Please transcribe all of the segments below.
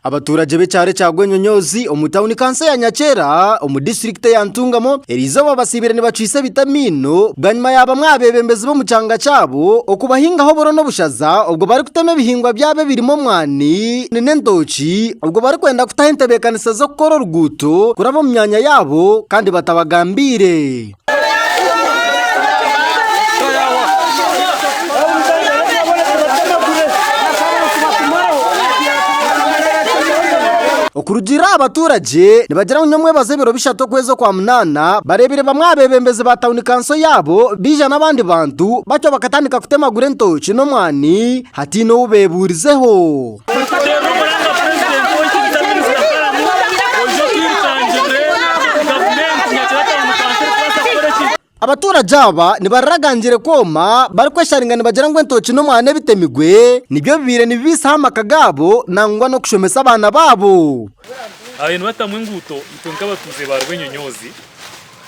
Abaturage b'ekyaro ekya Gwenyonyoozi omu tauni kanso ya Nyakyera omu disiturikiti eya Ntungamo eri izooba batsiibire nibacwitsa ebiti amaino bwanyima ya bamwe aha beebembezi b'omu kyanga kyabo okubahingaho oburo n'obushaza obwo barikutema ebihingwa byabo ebirimu omwani n'entooki obwo barikwenda kutaho entebeekanisa z'okukora oruguuto kuraba omu myanya yaabo kandi batabagambiire. Okurugiirira aha baturage nibagira ngu nyowe mwebaza ebiro bishatu okwezi okwa munaana bareebire bamwe aha beebembezi ba tauni kanso yaabo baija n'abandi bantu batyo bakatandika kutemagura entooki n'omwani hataine ou beebuurizeho. Abaturage aba nibaragangire kwoma barikwesharinga nibagira ngu entookye n'omwana ebitemigwe nibyo bibaire nibibiisaho amaka gaabo nangwa n'okushomesa abaana baabo.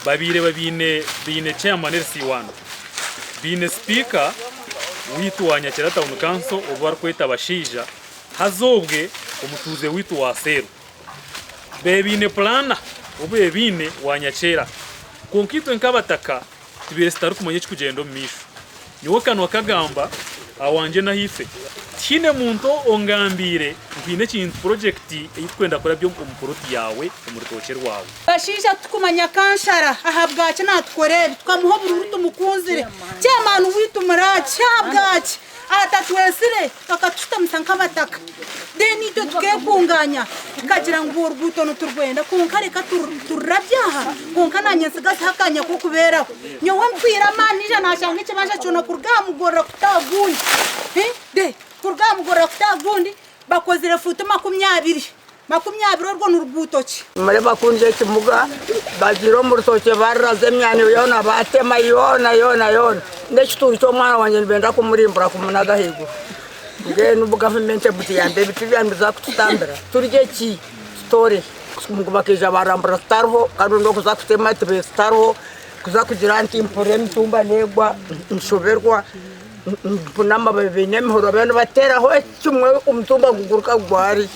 Babaire baine Chairman LC One, baine Sipiika waitu wa Nyakira Town Council obu barikweta Bashaija, haza obwe omutuuze waitu wa Seeru. Babaire baine Pulaana obu babaire baine wa Nyakyera. Kwonka itwe nk'abataka tubaire tutarikumanya ekirikugyenda omu maisho. Nyowe akanwa kagamba awangye n'aha ife, tihaine muntu ongambiire ngu haine ekintu, purojekiti, ei tukwenda kurabya omu puloti yaawe omu rutookye rwawe. Bashaija titukumanya Kansara ahabwaki natukora ebi, tukamuha obururu tumukunzire, Chairman waitu muraaki ahabwaki atatwetsire? Bakatushutamusa nk'abataka then itwe tukekungaanya tukagira ngu oruguuto niturwenda kwonka reka tururabye aha kwonka naanye ntsigazeho akaanya k'okubeeraho. Nyowe mpwire amaani naija naashanga ekibanja kyona kuruga aha mugorora kuta aha gundi, kuruga aha mugorora kuta aha gundi bakozire fuuti makumi abiri. Makumi abiri orwo ni ruguuto ki? Murebe bakundya ekimuga, bagiire omu rutookye baruraza emyaniro yoona, baatema yoona yoona yoona. N'ekituuri ky'omwana wangye nibenda kumurimbura kumunaga ahaiguru. Mbwenu bu gavumenti emutuyambe ebiti byaayo nibiza kututambira turye ki? Tutore ki? Ngu bakaija baarambura tutariho kandi obundi okuza kutema tibetutariho, kuza kugira nti mpurira emitumba neegwa, nshoberwa. Nibapima amababi baine emihoro bariyo nibateeraho ekimwe omutumba guguruka gugwa hari.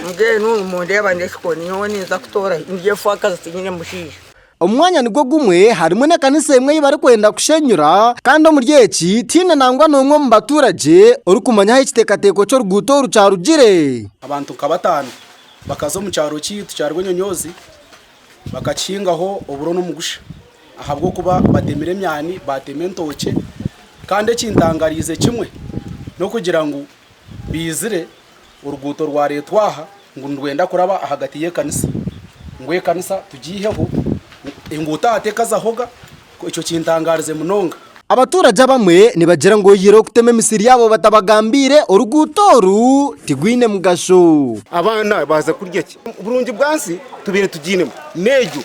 Mbwenu nimundeeba n'ekikoni nyowe ninza kutoora hi? Ndi efuakazi tinyine mushaija. Omu mwanya nigwo gumwe harimu n'ekanisa emwe ei barikwenda kushenyura kandi omuri eki tihaine nangwa n'omwe omu batuuragye orikumanya ahu ekiteekateeko ky'oruguuto oru kyarugire. Abantu nka bataano bakaza omu kyaro kyaitu kya Rwenyonyoozi. Bakakihingaho oburo n'omugusha ahabw'okuba batemire emyani, baatema entookye. Kandi ekintangariize kimwe n'okugira ngu baizire oruguuto rwareetwa aha ngu nirwenda kuraba ahagati y'ekanisa ngu ekanisa tugiiheho, enguuto aha tekazahoga. Ekyo kintangaarize munonga. Abaturage abamwe nibagira ngu oyihireho okutema emisiri yaabo batabagambiire, oruguuto oru tirwine mugasho. Abaana baaza kurya ki? Oburungi bwa nsi tubaire tugiinemu n'egyo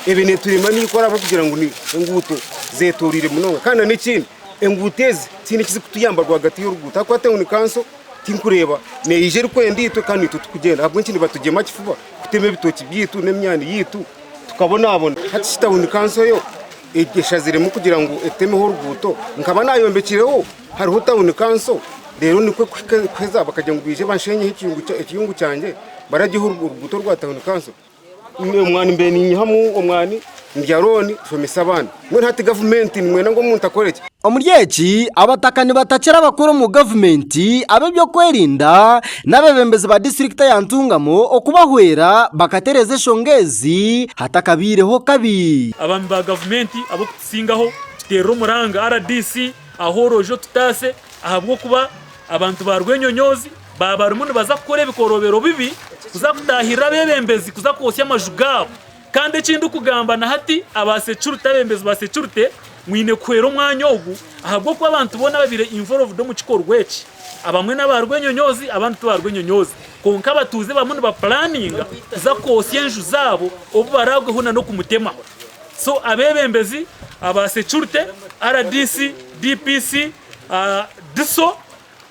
ebe neeturema n'eikora ahabw'okugira ngu ni enguuto zeetoreire munonga. Kandi n'ekindi enguuto ezi tihaine eki zikutuyamba rwagati y'oruguuto ahakuba hati ni kanso tikureeba neija erikwenda itwe kandi itwe tikugyenda. Ahabw'enki nibatugyema kifuba kutema ebitookye byaitu n'emyaani yaitu? Tukabonabona hati shi tawuni kanso eyo eshaziremu kugira ngu etemeho oruguuto? Nkaba nayombekireho hariho tawuni kanso, reero nikwo kuheza bakagira ngu baije banshenyeho ekiyungu kyangye baragyeho oruguuto rwa tawuni kanso. Omwani mbe ninyihamu omwani ndya rooni nshomesa abaana. Mbwenu hati gavumenti nimwenda ngu omuntu akore ki? Omuri eki, abataka nibatakira abakuru omu gavumenti, ab'ebyokwerinda n'abebembezi ba disiturikiti ya Ntungamo okubahwera bakatereeza enshonga ezi hatakabaireho kabi. Abaami ba gavumenti ab'okutusingaho tuteerere omuranga rdc ah'oroojo otutaase ahabw'okuba abantu ba rwenyonyoozi baaba barimu nibaza kukora ebikoroobero bibi kuza kutaahirira abebembezi kuza kwotsya amaju gaabo. Kandi eki ndikugamba na hati, abasecurite, abebembezi ba securite, mwine kuhwera omwanya ogu, ahabw'okuba abantu boona ababaire involved omu kikorwa eki, abamwe n'aba rwenyonyoozi, abandi ti ba rwenyonyoozi, kwonka abatuuze barimu nibapulaninga kuza kwotsya enju zaabo obu baraagweho na n'okumutemaho. So abebembezi, aba securite, RDC, DPC, DISO,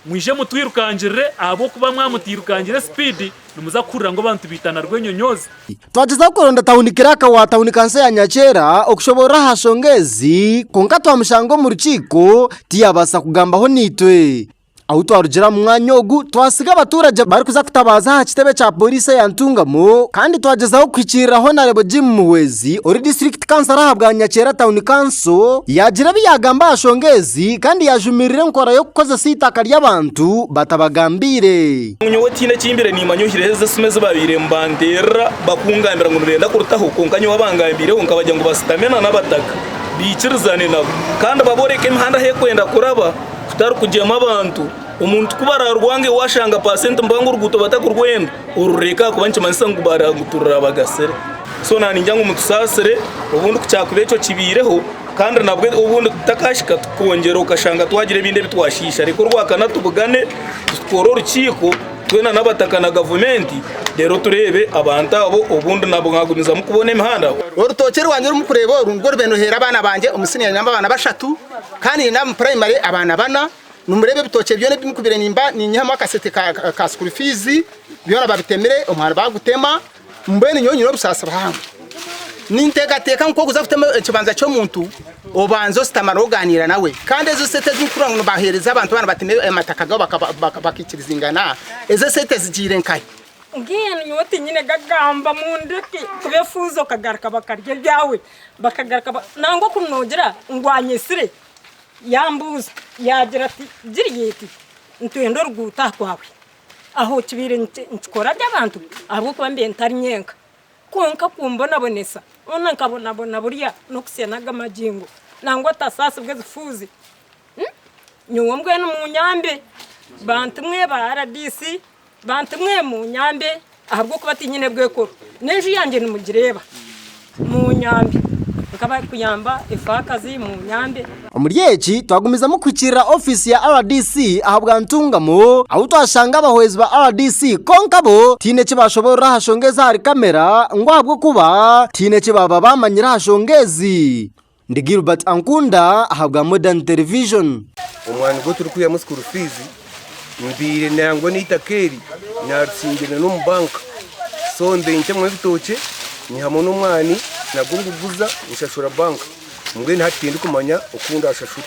Mwije mutwirukangirire, ahabw'okuba mwamutairukangire sipiidi, nimuza kuhurira ngu abantu baitana rw'enyonyoozi. Twagyezaho kuronda tauni kiraka wa tauni kansa ya Nyakyera okushoboorora aha nshonga ezi kwonka twamushanga omu rukiiko tiyaabaasa kugambaho naitwe. Ahu twarugira omu mwanya ogu twasiga abatuuragye barikuza kutabaaza aha kitebe kya pooriisi eya Ntungamo kandi twagyezaho kuhikiirira Honarebo Jim Muhwezi ori disiturikiti Kansara aha bwa Nyakyera Town Council yaagira ebi yaagamba aha nshonga ezi kandi yaajumirira enkora y'okukozesa eitaka ry'abantu batabagambiire. Nyowe tihaine eki mbaire niimanya ohireho ezi esimu ezi baabaire nibanteerera bakungambira ngu nibenda kurutaho kwonka nyowe abangambiireho nkabagira ngu bashutame na n'abataka baikirizane nabo kandi babooreke emihanda ahu erikwenda kuraba kutari kugyemu abantu. Omuntu ku baraarwange waashanga paasenti mpango oruguuto batakurwenda. orureka ahakuba nikimanyisa ngu baraguturira bagasire so naningira ngu mutusaasire obundi kukyakuba ekyo kibaireho kandi nabwo obundi takahika tukongyera okashanga twagira ebindi ebi twashiisha reka orwakana tubugane tukoore orukiiko twena n'abataka na gavumenti reero tureebe abantu abo obundi nabwo mwagumizamu kubona emihanda Orutookye rwangye oru murikureeba oru nirwo rube niruheera abaana bangye omu siniya nyine abaana bashatu kandi nyine omu purayimare abaana bana Nimureeba ebitookye byona ebi nkubire nimba ninyihamu akasente ka sukuuru fiizi? Byona babitemire, omwaani baagutema. Mbwenu nyowe nyine obusaasi buhango. Ninteekateeka ngu ku orikuza kutema ekibanza ky'omuntu, obanza oshutamare ogaaniira nawe. Kandi ezo sente ezi murikureeba ngu nibaheereza abantu baana batema amataka gaabo bakaikirizingana, ezo sente zigiire nkahi? Mbwenu nyowe tinyine gagamba, mundeke. Kuba efuuzi okagaruka bakarya ebyawe. Bakagaruka nangwa ku noogira ngu anyesire. Yaambuuza yaagira ati, Giriyaiti, nitwenda oruguuto aha kwawe. Aho kibaire nikikora gye abantu ahabw'okuba mbaire ntari nyenka. Kwonka kumbonabonesa, hoona nkabonabona burya n'okutsya n'aga magingo nangwa otasaasibwa ebifuuzi. Nyowe mbwenu munyambe, bantumwe ba RDC Bantu mwe munyambe ahabw'okuba tinyine bw'ekoro n'enju yangye nimugireeba munyambe nk'abarikuyamba efaakazi munyambe. Omuri eki twagumizamu kuhikiirira ofiisi ya rdc ahabwa Ntungamo ahu twashanga abahwezi ba rdc kwonka bo tihaine eki baashoboorora aha nshonga ez'ahari kamera ngu ahabw'okuba tihaine eki baaba baamanyire aha nshonga ezi. Ndi Gilbert Ankunda ahabwa Modern Television. Omwana gwe turikwihamu school fees mbaire nangwa n'eitaka eri naritsingirira n'omu bank so mbaire nitemamu ebitookye nyihamu n'omwani nagwo nguguza nshashura bank mbwenu hati tindikumanya oku ndashashura.